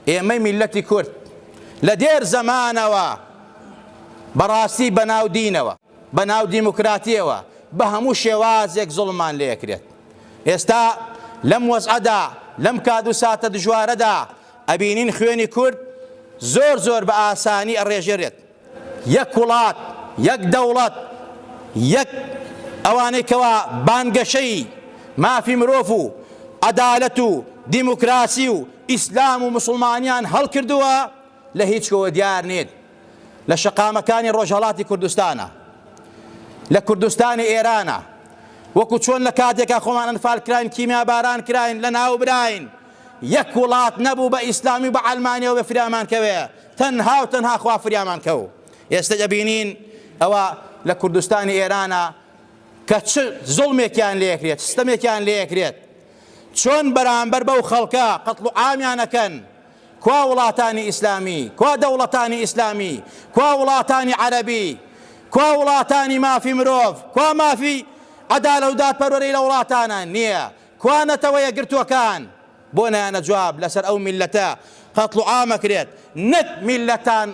ئێمەی میللەتی کورد لە دێر زەمانەوە بەڕاستی بەناو دینەوە بەناو دیموکراتیەوە بە هەموو شێوازێک زوڵمان لێکرێت ئێستا لەم وەزعەدا لەم کات و ساتە دژوارەدا ئەبینین خوێنی کورد زۆر زۆر بە ئاسانی ئەڕێژێرێت یەک وڵات، یەک دەوڵەت، یەک ئەوانەی کەوا بانگەشەی مافی مرۆڤ و عەدالەت و دیموکراسی و ئیسلام و موسڵمانیان هەڵکردووە لە هیچ کوێوە دیار نین لە شەقامەکانی ڕۆژهەڵاتی کوردستانە لە کوردستانی ئێرانە وەکو چۆن لە کاتێکا خۆمان ئەنفال کراین کیمیاباران کراین لە ناوبراین یەک وڵات نەبوو بە ئیسلامی و بە عەلمانیەوە بە فریامان کەوێ تەنها و تەنها خوا فریامان کەو ئێستا دەبینین ئەوە لە کوردستانی ئێرانە کە چ زڵمێکیان لەکرێت سیستەمێکیان لەکرێت چۆن بەرامبەر بەو خەڵکە قەتڵ و ئامیانەکەن کوا وڵاتانی ئیسلامی کوا دەوڵەتانی ئیسلامی کوا وڵاتانی عەربی کوا وڵاتانی مافی مرۆڤ کوا مافی عدالە و دادپەروەری لە وڵاتانە نییە کوا نەتەوە یەکگرتووەکان؟ بۆ نایەنە جواب لەسەر ئەو میللەتە قەتڵوعام ئەکرێت نەک میللەتان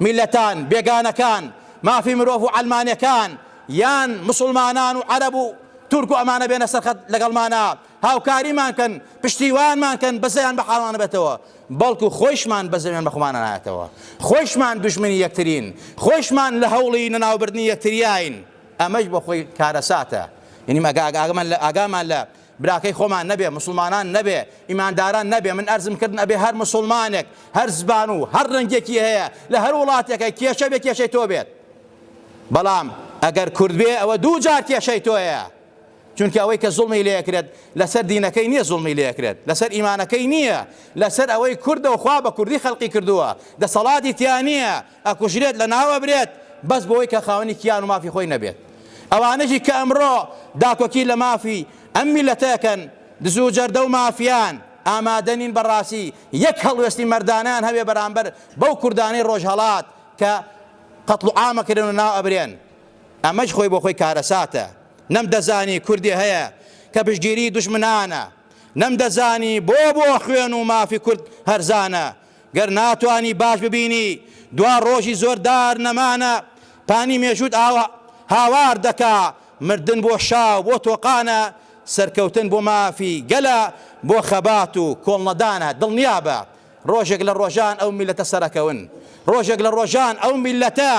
میللەتان بێگانەکان مافی مرۆڤ و عەلمانێکان یان مسوڵمانان و عەرەب و تورک و ئەمانە بێنە سەر خەت لەگەڵمانا هاوکاریمان کەن پشتیوانمان کەن بەزەیان بە حاڵانە بێتەوە بەڵکو خۆیشمان بەزەوێن بەخۆمانە نایەتەوە خۆیشمان دوژمنی یەکترین خۆیشمان لە هەوڵی نەناوبردنی یەکتریاین ئەمەیش بۆ خۆی کارەساتە. یەنی ئەگە ئاگامانلە ئاگامان لە براکەی خۆمان نەبێ، موسڵمانان نەبێ، ئیمانداران نەبێ، من ئەرزم کردن ئەبێ هەر موسڵمانێک، هەر زبان و هەر ڕەنگێکی هەیە لە هەر وڵاتێکە کێشە بێ کێشەی تۆ بێت. بەڵام ئەگەر کورد بێ ئەوە دوو جار کێشەی تۆیە. چونکە ئەوەی کە زوڵمی لێکرێت لەسەر دینەکەی نییە زوڵمی لێکرێت لەسەر ئیمانەکەی نییە لەسەر ئەوەی کوردە و خوا بە کوردی خەلقی کردووە دەسەڵاتی تیا نییە ئەکوژرێت لە ناو ئەبرێت بەس بۆوەی کە خاوەنی کیان و مافی خۆی نەبێت ئەوانەشی کە ئەمڕۆ داکۆکی لە مافی ئەم میلەتە ئەکەن دزو جەردە و مافیان ئامادە نین بە ڕاسی یەک هەڵوێستی مەردانەیان هەبێ بەرامبەر بەو کوردانەی ڕۆژهەڵات کە قەتڵ و عامە کرێن و ناو ئەبرێن ئەمەش خۆی بۆ خۆی کارەساتە نەم دەزانی کوردی هەیە کە پشگیری دوشمنانە نەم دەزانی بۆ بۆ خوێن و مافی کورد هەرزانە گەر ناتوانی باش ببینی دوا ڕۆژی زۆر دار نەمانە پانی مێژووت ئاوا هاوار دەکا مردن بۆ شا و بۆ تۆقانە سەرکەوتن بۆ مافی گەلە بۆ خەبات و کۆڵنەدانە دڵنیابە ڕۆژێک لە ڕۆژان ئەو میلەتە سەرەکەون ڕۆژێک لە ڕۆژان ئەو میلەتە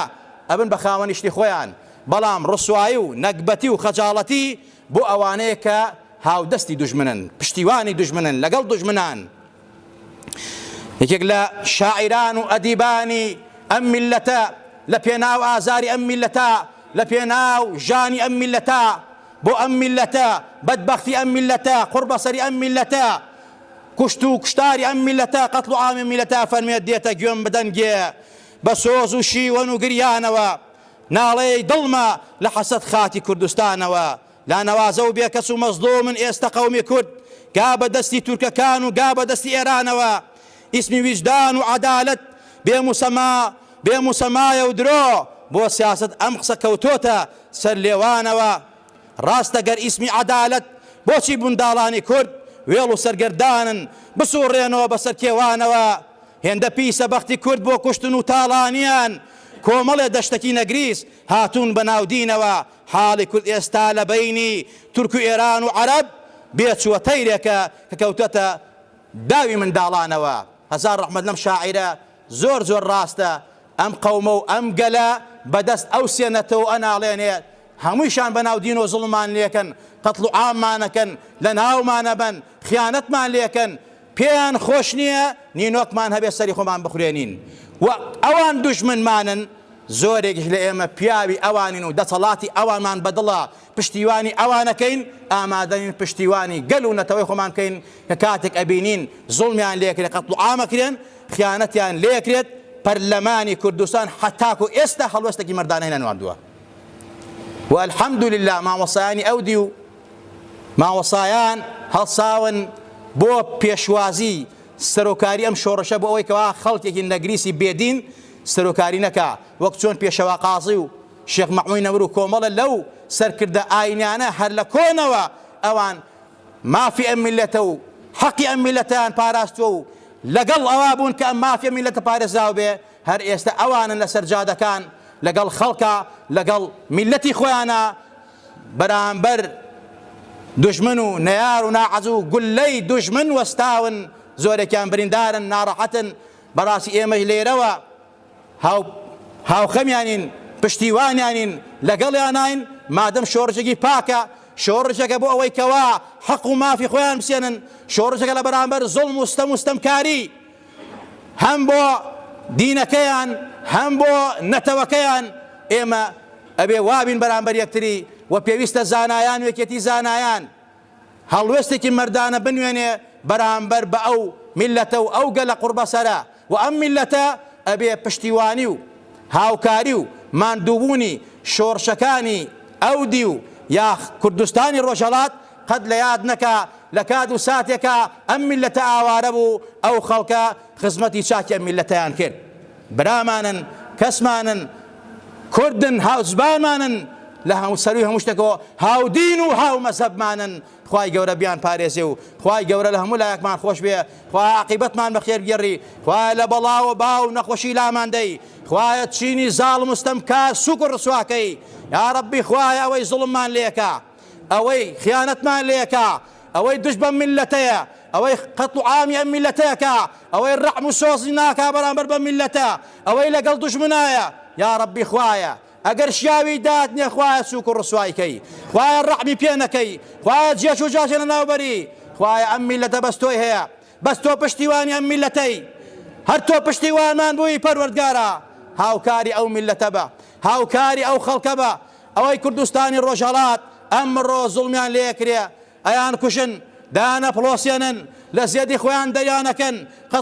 ئەبن بە خاوەنی شتی خۆیان بەڵام ڕسوایی و نەگبەتی و خەجاڵەتی بۆ ئەوانەیە کە هاودەستی دوژمنن پشتیوانی دوژمنن لەگەڵ دوژمنان یەکێک لە شاعیران و ئەدیبانی ئەم میللەتە لە پێناو ئازاری ئەم میللەتە لە پێناو ژانی ئەم میللەتە بۆ ئەم میللەتە بەدبەختی ئەم میللەتە قوڕبەسەری ئەم میللەتە کوشت و کوشتاری ئەم میلەتە قەتڵ و عامی میلەتە فەرمێت دێتە گوێم بدەنگێ بە سۆز و شیوەن و گریانەوە ناڵەی دڵمە لە حەسەت خاکی کوردستانەوە لا نەوازە و بێ کەس و مەزلومن ئێستە قەومی کورد گا بە دەستی تورکەکان و گا بە دەستی ئێرانەوە ئیسمی ویژدان و عەدالەت بێ موسەما بێ موسەمایە و درۆ بۆ سیاسەت ئەم قسە کەوتۆتە سەر لێوانەوە ڕاستە گەر ئیسمی عەدالەت بۆچی بنداڵانی کورد وێڵ و سەرگەردانن بسوڕێنەوە بە سەر کێوانەوە هێندە پیسە بەختی کورد بۆ کوشتن و تاڵانیان کۆمەڵێ دەشتەکی نەگریس هاتوون بە ناودینەوە حاڵی کورد ئێستا لە بەینی تورک و ئێران و عەرەب بێ چووە تەیرێکە کە کەوتۆتە داوی منداڵانەوە. هەزار ڕەحمەت لەم شاعیرە زۆر زۆر ڕاستە ئەم قەومە و ئەم گەلە بە دەست ئەو سێ نەتەوە ئەناڵێنێ هەموویشان بە ناو دینەوە زوڵممان لێکەن قەتڵ و عاممان ئەکەن لە ناومان ئەبەن خیانەتمان لێکەن پێیان خۆش نییە نینۆکمان هەبێت سەری خۆمان بخورێنین و ئەوان دوژمنمانن، زۆرێکیش لە ئێمە پیاوی ئەوانین و دەسەڵاتی ئەوانمان بە دڵە، پشتیوانی ئەوانەکەین، ئامادەنین پشتیوانی گەل و نەتەوەی خۆمان بکەین کە کاتێک ئەبینین زوڵمیان لێکرێت، قەتڵوعام ئەکرێن، خیانەتیان لێکرێت، پەرلەمانی کوردستان هەتاکو ئێستا هەڵوێستێکی مەردانەی نەنواندووە و الحمدللە مامۆستایانی ئەو دیو، مامۆستایان هەڵساون بۆ پێشوازی سەرۆکاری ئەم شۆڕشە بۆ ئەوەی کەوا خەڵکێکی نەگریسی بێدین سەرۆکاری نەکا وەک چۆن پێشەوا قازی و شێخ مەحموی نەمر و کۆمەڵە لەو سەرکردە ئاینیانە هەر لە کۆنەوە ئەوان مافی ئەم میلەتە و حەقی ئەم میلەتیان پاراستوە و لەگەڵ ئەوا بوون کە ئەم مافی ئەم میلەتە پارێزراو بێ هەر ئێستا ئەوانن لەسەر جادەکان لەگەڵ خەڵکە لەگەڵ میلەتی خۆیانە بەرامبەر دوژمن و نەیار و ناعەزو گولەی دوژمن وەستاون زۆرێکیان بریندارن ناڕەحەتن بەڕاستی ئێمەش لێرەوە هاو هاوخەمیانین پشتیوانیانین لەگەڵیانین مادەم شۆڕشێکی پاکە شۆڕشەکە بۆ ئەوەی کەوا حەق و مافی خۆیان بسێنن شۆڕشەکە لە بەرامبەر زۆڵم و ستەم و ستەمکاری هەم بۆ دینەکەیان هەم بۆ نەتەوەکەیان ئێمە ئەبێ وابین بەرامبەر یەکتری و پێویستە زانایان وێکێتی زانایان هەڵوێستێکی مەردانە بنوێنێ بەرامبەر بە ئەو میلەتە و ئەو گەلە قوڕبەسەرە و ئەم میلەتە ئەبێ پشتیوانی و هاوکاری و ماندووبوونی شۆڕشەکانی ئەو دی و یاخ کوردستانی ڕۆژهەڵات قەت لە یاد نەکا لە کات و ساتێکا ئەم میللەتە ئاوارە بوو ئەو خەڵکە خزمەتی چاکی ئەم میللەتەیان کرد برامانن کەسمانن کوردن هاوزبانمانن لە هەموو سەروی هەموو شتێکەوە هاودین و هاو مەزەبمانن خوای گەورە بیان پارێزێ و خوای گەورە لە هەموو لایەکمان خۆش بێ خوای عقیبەتمان بەخێر گێڕی خوای لە بەڵاوە باو نەخۆشی لاماندەی خوایە چینی زاڵ مستەم کار سوک و ڕسواکەی یا ڕبی خوای ئەوەی زڵممان لێکە ئەوەی خیانەتمان لێکا، ئەوەی دژ بەم میللەتەیە، ئەوەی قەتڵ و عامی ئەم میللەتەکا، ئەوەی ڕەعم و سۆزی ناکا بەرامبەر بەم میللەتە، ئەوەی لەگەڵ دوژمنایە، یاڕەبی خوایە ئەگەر شیاوی داتنێ خوایە سووک و ڕسوای کەی، خوایە ڕەحمی پێ نەکەی، خوایە جێچ و جاچێ لەناو بەری، خوایە ئەم میللەتە بەس تۆی هەیە، بەس تۆ پشتیوانی ئەم میللەتەی، هەر تۆ پشتیوانمان بووی پەروەردگارا، هاوکاری ئەو میللەتە بە، هاوکاری ئەو خەڵکە بە، ئەوەی کوردستانی ڕۆژهەڵات ئەمڕۆ زوڵمیان لێکرێ ئەیان کوژن دانەپڵۆسێنن لە زێدی خۆیان دەریانەکەن قەت